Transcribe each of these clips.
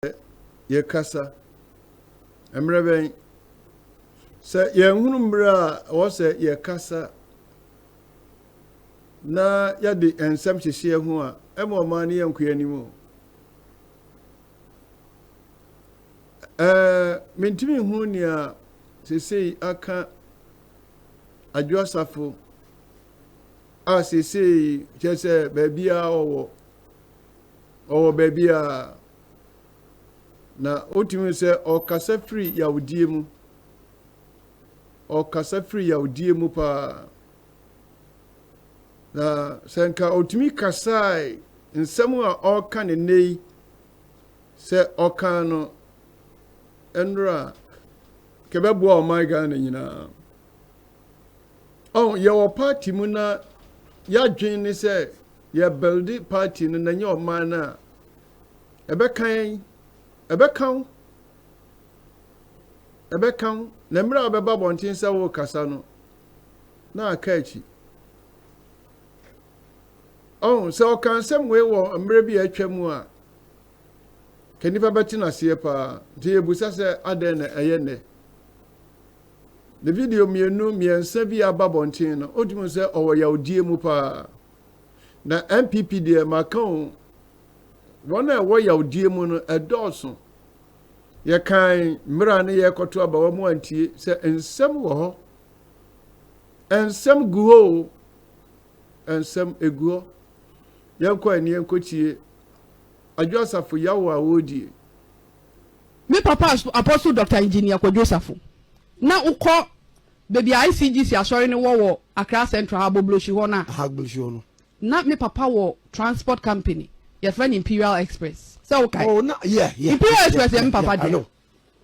sɛ yɛkasa. Mmerɛ bɛn? Sɛ yɛnhunu mmerɛ a ɛwɔ sɛ yɛkasa na yɛde nsɛm hyehyeɛ ho a, ɛma ɔmaa no yɛnkɔ yɛn anim o. Ɛɛ mentumi hu nea seesei aka Adwo Asafo a seesei kyerɛ sɛ baabiara ɔwɔ. Ɔwɔ baabiara. Na wotumi hu sɛ ɔkasa firi yawdie mu. Ɔkasa firi yawdie mu paa. Na sɛ nka ɔtumi kasae nsɛm a ɔreka ne nnɛ yi sɛ ɔkan no nnora a kɛbɛboa ɔman Ghana nyinaa. Ɔn yɛwɔ party mu na yɛadwen ne sɛ Yɛ builde party no na nyɛ ɔman no a ɛbɛka yɛn, ɛbɛka wo, ɛbɛka wo, na mmerɛ a wobɛba abɔnten sɛ worekasa no na aka akyi. Ɔho, sɛ ɔka nsɛm wei wɔ mmerɛ bi a atwa mu a, ka nipa bɛte no aseɛ paa, nti yɛbusa sɛ adɛn na ɛyɛ nnɛ. Ne video mmienu, mmiɛnsa bi a aba abɔnten no, wotumi hu sɛ ɔwɔ yawdie mu paa. Na NPP deɛ maka o, wɔn a ɛwɔ yawdie mu no ɛdɔɔso. Yɛkan mmera ne yɛrekɔto aba wɔn antie sɛ nsɛm wɔ hɔ. Nsɛm gu hɔ o, nsɛm egu hɔ. Yɛnkɔ ani yɛnkɔtie Adwo Asafo yawo a wɔredie. Me papa Apostle Doctor Engineer Kwadwo Safo na wokɔ Baabi a ICGC asɔre no wɔ wɔ Accra Central, Ahagbogblosi hɔ no a. Ahagbogblosi hɔ no. Ná me papa wɔ transport company, wɔfrɛ no Imperial Express, sɛ wokae. Oh, na, yeah, yeah. Imperial Express yɛ me papa deɛ. I know,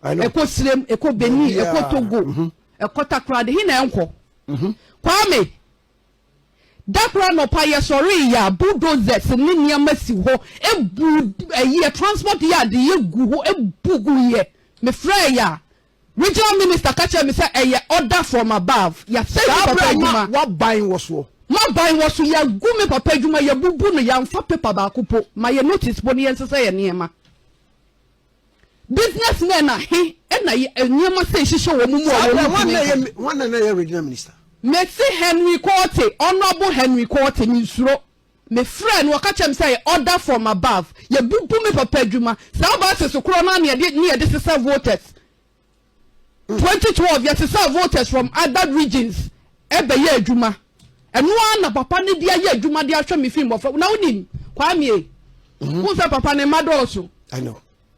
I know. Ɛkɔ Sirem, ɛkɔ Benin, yeah, ɛkɔ Togo, mm-hmm. ɛkɔ Takoradi, he na ɛnkɔ. Mm-hmm. Kwame, da koro anɔpa yɛsɔre yɛ a bulldozers ne nneɛma si hɔ, ebu ɛyɛ transport yɛ ade yɛ gu hɔ, ebu gu yɛ. Mefrɛ yɛ a, Regional Minister ka kyerɛɛ me sɛ ɛyɛ order from above, yɛasɛe me papa adwuma. Saa berɛ a na wɔaban wɔ soɔ. Maban wɔ so, yɛagu me papa adwuma, yɛabubu no, yɛamfa paper baako mpo, mayɛ notice mpo ne yɛnsesa yɛn nneɛma. Business men ahe na nneɛma sei hyehyɛ wɔn mu a wɔntumi nkɔ. Saa berɛ hwan na na ɛyɛ Regional Minister? Mese Henry Quartey, Honourable Henry Quartey, mensuro. Me frɛɛ no, ɔka kyerɛɛ me sɛ yɛ order from above, yɛ bubu me papa adwuma, saa buses korɔ no ara na yɛde ne yɛde sesa voters, 2012 yɛ sesa voters from other regions ɛbɛ yɛ adwuma, ɛno ara na papa no de ayɛ adwuma de ahwɛ me fi mmɔfra, na wonim Kwame, mhm. wo sɛ papa ne mma dɔɔso,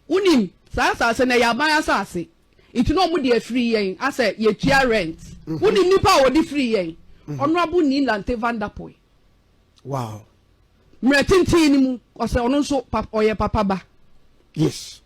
wonim saa asase na ɛyɛ aban asase, nti na wɔn de afiri yɛn asɛ yɛtua rent, mhm. wonim nipa a wɔde firi yɛn, mhm. honourable Nilante Vanderpool. Wow. Mmerɛ tenten no mu, ɔsɛ ɔno nso pap ɔyɛ papa ba. Yes.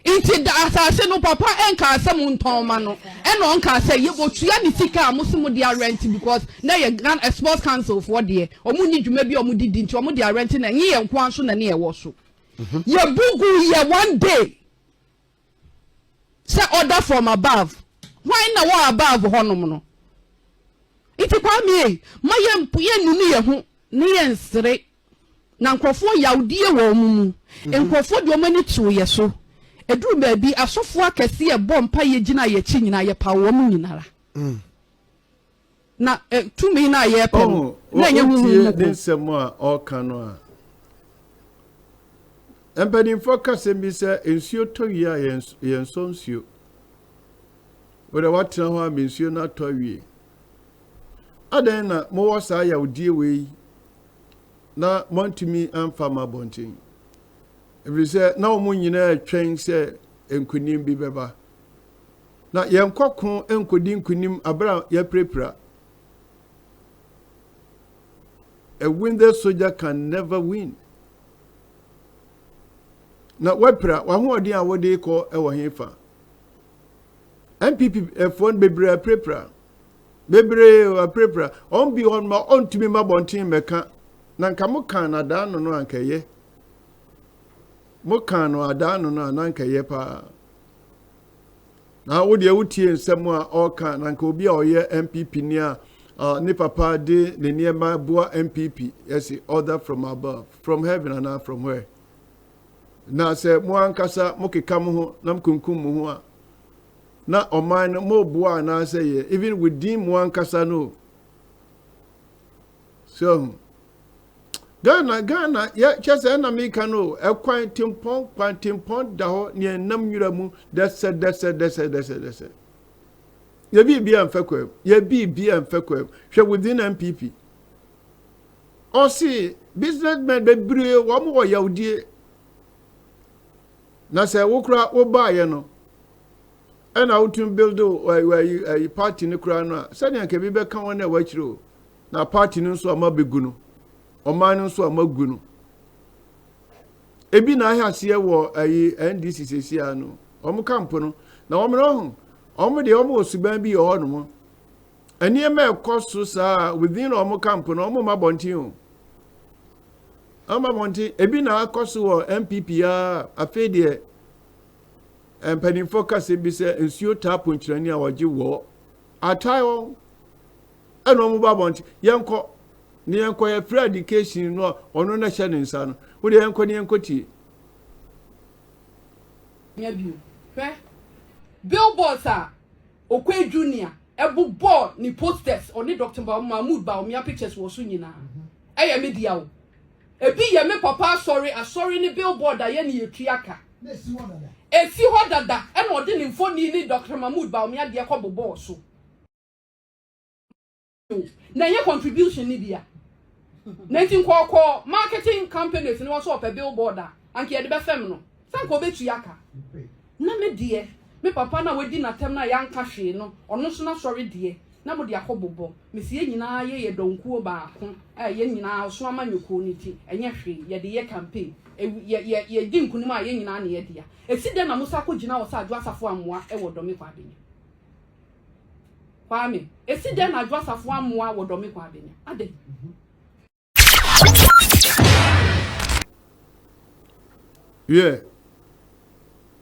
Nti da asase no papa nkaa sɛ mo ntɔn ma no ɛna ɔnkaa sɛ yɛ ɔtua ne sika a mo se mo de arɛnte because na ɛyɛ Ghana eh, sports council foɔ deɛ ɔmo nni dwuma bi a ɔmo de di nti ɔmo de arɛnte na ɛnyɛ yɛn nkoa nso na ne ɛwɔ so. Mhm. Yɛbu gu yɛ one day. sɛ order from above hwan na wɔ above hɔnom no nti kwame ei ma yɛ yɛ nunu yɛ ho ne yɛ nsere na nkurɔfoɔ yawdie wɔ wɔn mu mhm. nkurɔfoɔ deɛ wɔn ani too yɛ so eduru baabi asɔfoɔ akɛseɛ bɔ mpa yɛ gyina yɛ akyi nyinaa yɛ pa wɔn nyinara. Mm. Na tumi no a yɛrepɛ no, na ɛnyɛ honhom mu ko. Wotie ne nsɛm a ɔreka no a, mpanimfoɔ ka sɛm bi sɛ, nsuo tɔ wie a yɛnsɔ nsuo. Wode woatena hɔ a ma nsuo no atɔ awie. Adɛn na mowɔ saa yawdie wei na moantumi amfa ma abɔnten? Ɛfiri sɛ na wɔn nyinaa twɛn sɛ nkonim bi bɛba. Na yɛnkɔ ko nkɔdi nkonim berɛ a yɛapirapira. A winded soldier can never win. Na woapira, w'ahoɔden a wode kɔ wɔ he fa? NPPfoɔ no bebree apirapira. Bebree apirapira. Wɔn bi hɔ ma ɔntumi ma bɔnten mɛka. Na nka mo kan no adaa no no anka ɛyɛ. Mo kan no adaa no no anka ɛyɛ paa. Na wo deɛ wotie nsɛm a ɔreka na nka obi a ɔyɛ NPP ni a uh, ne papa de ne nneɛma boa NPP ɛsi order from above from heaven anaa from where na sɛ mo ankasa mo keka mo ho na mo kunkum mo ho a na ɔman no mo boa anaasɛ yɛ even within mo ankasa no so hu Ghana Ghana yɛ kyɛ sɛ ɛna meka no ɛkwan tempɔn kwan tempɔn da hɔ nea ɛnam nwura mu dɛsɛ dɛsɛ dɛsɛ dɛsɛ dɛsɛ yɛbi bi amfɛ kwa mu yɛbi bi amfɛ kwa mu hwɛ within npp ɔse businessmen bebree wɔn wɔ yawdie na sɛ wokora wobaayɛ no ɛna wotumi build ayi party no koraa no a sɛdeɛ nka bi bɛka wɔn a wɔakyerɛ o Na party no nso a mabɛgu no, ɔman no nso a magu no. Ebi na ahɛ aseɛ wɔ ayi NDC sɛsi a no, wɔn kampo no. Na wɔn no ho, wɔn deɛ wɔn wɔ suban bi wɔ hɔnom. Nneɛma ɛkɔ so saa within wɔn kampo no, wɔn mma bɔnten o. Wɔn mma bɔnten, ebi na akɔ so wɔ NPP a afei deɛ mpanimfoɔ kasa bi sɛ nsuo taa ponkyerɛni a wɔgye wɔ atae wɔn. Ɛna ɔmo ba abɔnten, yɛnkɔ, ne yɛnkɔ, yɛfrɛ adikehyin no a ɔno na ɛhyɛ ne nsa no, wo deɛ yɛnkɔ ne yɛnkɔ tie. Nya bio. Hwɛ billboards a Okoye Junior bobɔɔ ne posters, ɔne Doctor Mahmood Bawumia pictures wɔ so nyinaa. Ɛyɛ me dea o. Ebi yɛ me papa asɔre, asɔre ne billboard a yɛne yɛtua ka. Esi hɔ dada. Ɛna ɔde ne mfoni ne Doctor Mahmood Bawumia deɛ kɔbobɔɔ so. na ɛnyɛ contribution no bi a na nti nkɔɔkɔɔ marketing companies no wɔ so ɔpɛ billboard a anka yɛde bɛfam no sɛ nka ɔbɛtua aka na me deɛ me papa no a wadi n'atam no a yɛanka hwee no ɔno so n'asɔre deɛ na mode akɔ bobɔ mesi yɛn nyinaa yɛ yɛ dɔnkuo baako a yɛn nyinaa ɔso amanyɔkuo no nti ɛnyɛ hwee yɛde yɛ campaign yɛdi nkonim a yɛn nyinaa ne yɛdea ɛsi dɛn na mo sa akɔgyina wɔ sɛ adwo asafo ammoa wɔ dɔme kɔ abɛnya Kwame, esi dɛn na Adwo Asafo ammoa wɔ Dɔme Kwa Adenya? Adɛn? Hwɛ,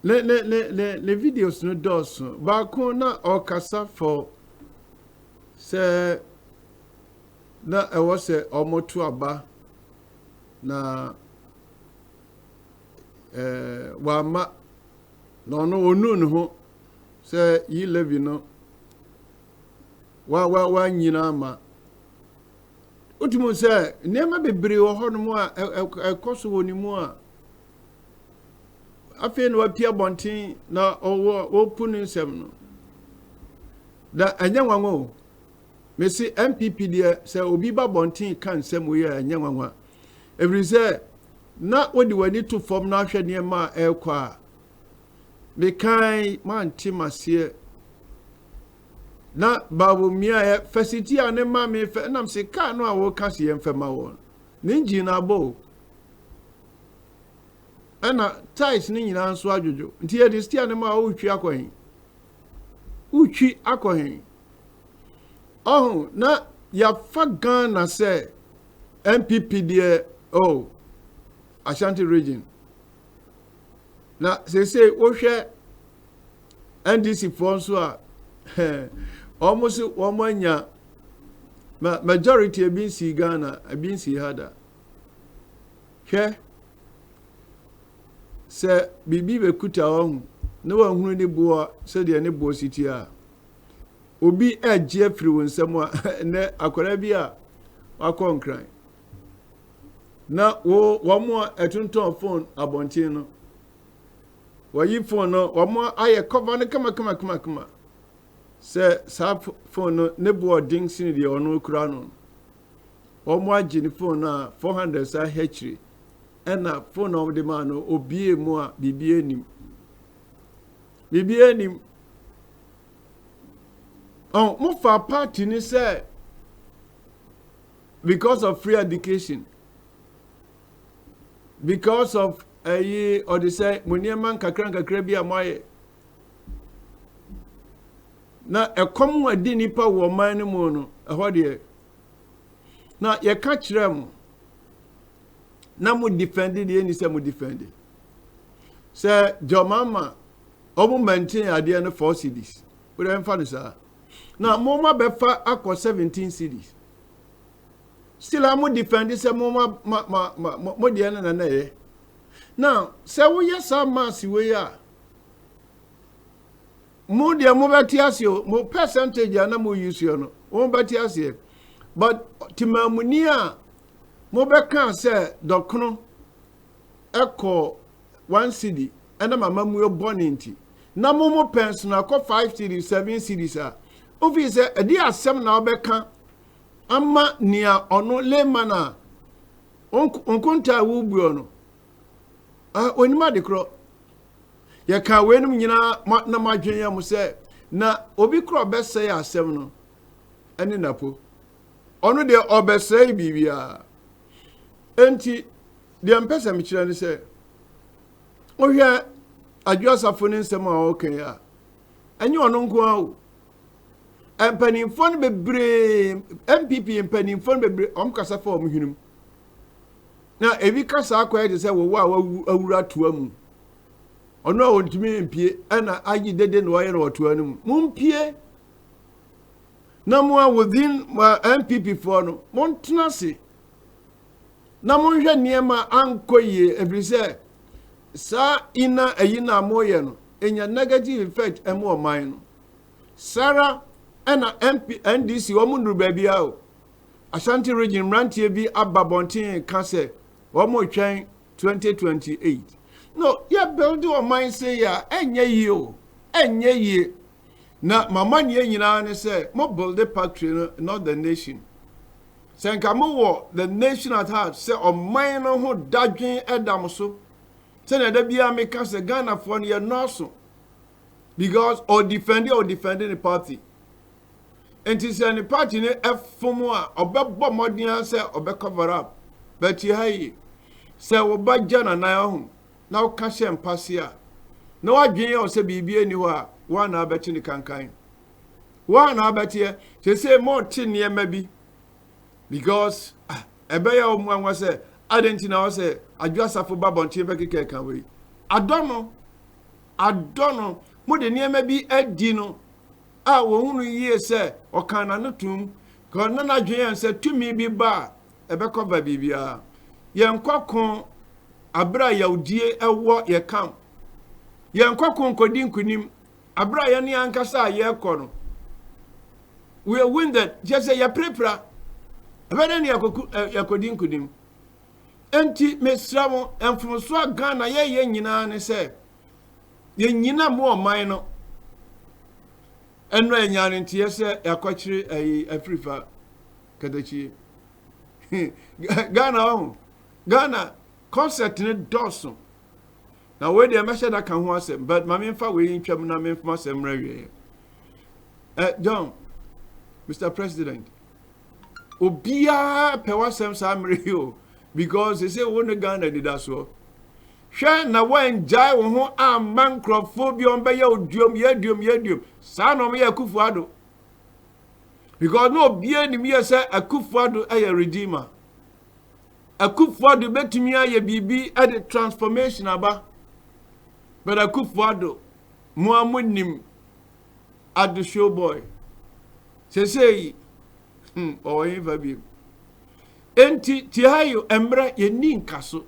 ne ne ne ne ne videos no dɔɔso. Baako na ɔkasa fɔ sɛ na ɛwɔ sɛ wɔto aba na ɛɛ wama na ɔno ɔnu ne ho Sɛ yi Levi no wa wa wanyin ama wotumi sɛ nneɛma bebree wɔ hɔnom a ɛkɔ so wɔ ne mu a afei na wapia bɔnten na ɔwɔ wɔpu ne nsɛm no na ɛnyɛ nwanwa o mesi npp deɛ sɛ obi ba bɔnten ka nsɛm wei a ɛnyɛ nwanwa ɛfiri sɛ na wode w'ani to fam na ahwɛ nneɛma a ɛrekɔ a me kan mante maseɛ na bawo miaɛ fɛsiti a ne ma me fɛ ɛnam se kaa no a wɔka se yɛn fɛma wɔn ne engine no abɔ o ɛna tais ne nyinaa nso adwodwo nti yɛde stia ne ma wotwi akɔ he wotwi akɔ he ɔho na yɛafa ghana sɛ mpp deɛ o ashanti region na sese wohwɛ ndc foɔ nso a wɔn so wɔn anya ma majority ebi nsi ghana ebi nsi ha da hwɛ sɛ biribi bɛkuta wɔn ho na wɔahunu ne boɔ sɛdeɛ ne boɔ si tie a obi agye afiri wɔn nsam a ɛnɛ akwadaa bi a wakɔ nkran. na wo wɔn a ɛtontɔn phone abɔnten no wɔyi phone no wɔn ayɛ cover no kamakamakama sɛ saa phone no ne bo ɔden sini deɛ ɔno kura no wɔn agye ne phone no a four hundred saa hɛkyiri ɛna phone na wɔde maa no obie mu a biribi anim biribi anim ɔn mo fa party ni sɛ. because of free education because of ɛyi eh, ɔde sɛ mo nneɛma nkakra nkakra bi a mo ayɛ na ɛkɔm a di nipa wɔ ɔman no mu no ɛhɔ deɛ na yɛka kyerɛ mo na mo difɛndi deɛ ɛni sɛ mo difɛndi sɛ jɔmama wɔn mɛnten adeɛ no four cities Wode mfa no saa. Na moma bɛfa akɔ 17 cities. Sila mo defend sɛ moma ma ma ma mo deɛ no na na ɛyɛ. Na sɛ woyɛ saa mass wei a mo deɛ mobɛte ase o mo percentage a na mo use yɛ no mobɛte aseɛ but temamuni a mobɛka sɛ dɔkono kɔ one cedi ɛnam amammuo bɔne nti na mo mo pɛn so na kɔ five cedi seven cedi saa ofii sɛ ɛde asɛm na ɔbɛka ama nea ɔno layman a nkontaa wubuo no onim ade korɔ yɛka weinom nyinaa na mo adwene yɛ mo sɛ na obi korɔ ɔbɛsɛe asɛm no ɛne napo ɔno deɛ ɔbɛsɛe biribiara Enti, deɛ mpɛ sɛ mekyerɛ ne sɛ, wohwɛ Adwo Asafo ne nsɛm a ɔreka yi a, ɛnyɛ ɔno nko ara o. Mpanimfoɔ no bebree, NPP mpanimfoɔ no bebree, wɔn kasa fa wɔn hwenem. Na ebi kasa akɔyɛ te sɛ wɔwɔ a wawu awura toa mu. Ɔno a wɔntumi mpie ɛna agye dede na wɔayɛ na wɔtoa no mu. Mompie na mo a within ma npp foɔ no montena ase na monhwɛ nneɛma ankɔ yie ɛfiri sɛ saa ina ayi no a moyɛ no ɛnya negative effect ɛmu ɔman no sara ɛna MP, ndc wɔn nnuru baabi a o ashanti region mmeranteɛ bi aba bɔnten ka sɛ wɔn retwɛn 2028 no yɛ build ɔman se yɛ a ɛnyɛ yie o ɛnyɛ yie Na m'amanneɛ nyinaa ne sɛ mo builde factory no not the nation. Sɛ nka mo wɔ the nation at heart sɛ ɔman no ho dadwen ɛda mo so. Sɛnea da biara me ka sɛ Ghanafoɔ no yɛ nnɔɔso because ɔ defend a ɔ defend ne party. Nti sɛ ne party no ɛfom a ɔbɛbɔ mmɔden ara sɛ ɔbɛ cover up. But yɛ ha yi sɛ wo ba gya nanan ɔho na woka hyɛ mpaseɛ a, na w'adwene yɛ wo sɛ biribiara nni hɔ a, wo a na abɛte ne kankan. Wo a na abɛteɛ, sese mote nneɛma bi because ah, ɛbɛyɛ wo mmoanwa sɛ adɛn nti na wɔ sɛ adwo asafo ba bɔnten bɛkeka ɛka wei. Adɔ no, adɔ no, mode nneɛma bi adi no a wɔhunu yie sɛ ɔkan n'ano tom, na n'adwene yɛ sɛ tumi bi ba a, ɛbɛkɔva biribiara. Yɛnkɔ ko bere a yawdie wɔ yɛn camp. Yɛnkɔ ko nkɔdi nkonim bere a yɛne ankasa a yɛrekɔ no. We are wounded, kyerɛ sɛ yɛpirapira. Ɛbɛdɛ ne yɛkɔdi nkonim. Enti mesrɛ mo, mfomsoɔ a Ghana yɛyɛ nyinaa ne sɛ yɛnyina mu ɔman no ɛno ɛnya ne nteɛ sɛ yɛakɔkyere ayi afirifa katakyie ghana ɔho ghana concert ne dɔɔso na wei deɛ mɛhyɛ da ka ho asɛm but ma memfa wei ntwam na memfoma asɛm mmerɛ wieɛ eh, john mr president obiara pɛ w'asɛm saa mmerɛ yi o because ɛsɛ wo ne ghana anidasoɔ hwɛ na woangyae wo ho amma nkurɔfoɔ bi ɔmbɛyɛ oduom yɛaduom yɛaduom saa na ɔmyɛ akufo ado because na obiara nim yɛ sɛ Akufo-Addo yɛ redeemer. Akufo-Addo betumi ayɛ biribi de transformation aba, but Akufo-Addo mo a mo nim Addo show boy sese yi hmm ɔwɔ yɛn fa bi. Enti Tiayo mmerɛ yɛn ni nka so.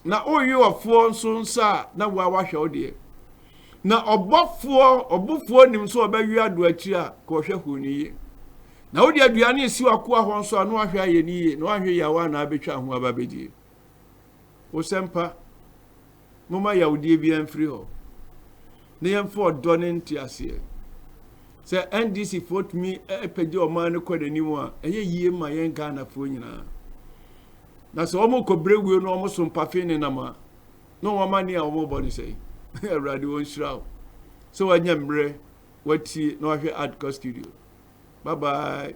na woyi ɔfoɔ nso nsa a na woa wahwɛ wo deɛ na ɔbɔfoɔ ɔbofoɔ nim nso ɔbɛwe ado akyiri a ka ɔhwɛ ho no yie na wode aduane esi wakoa hɔ nso a na wahwɛ ayɛ no yie na wahwɛ yawa na abɛtwa ho aba bɛdie wosɛmpa Momma yawodeɛ biara mfiri hɔ na yɛmfa ɔdɔ ne nteaseɛ. Sɛ NDC foɔ tumi pagya ɔman no kɔ n'anim a, ɛyɛ yie ma yɛn Ghanafoɔ nyinaa. Na sɛ wɔn kɔbrɛ wuo na wɔn so mpafe ne nam a, na wɔn amane a wɔn bɔ ne sɛn. Awurade wɔn nhyira wo. Sɛ wɔanya mmerɛ wɔatie na wɔahwɛ Adka studio. Bye bye.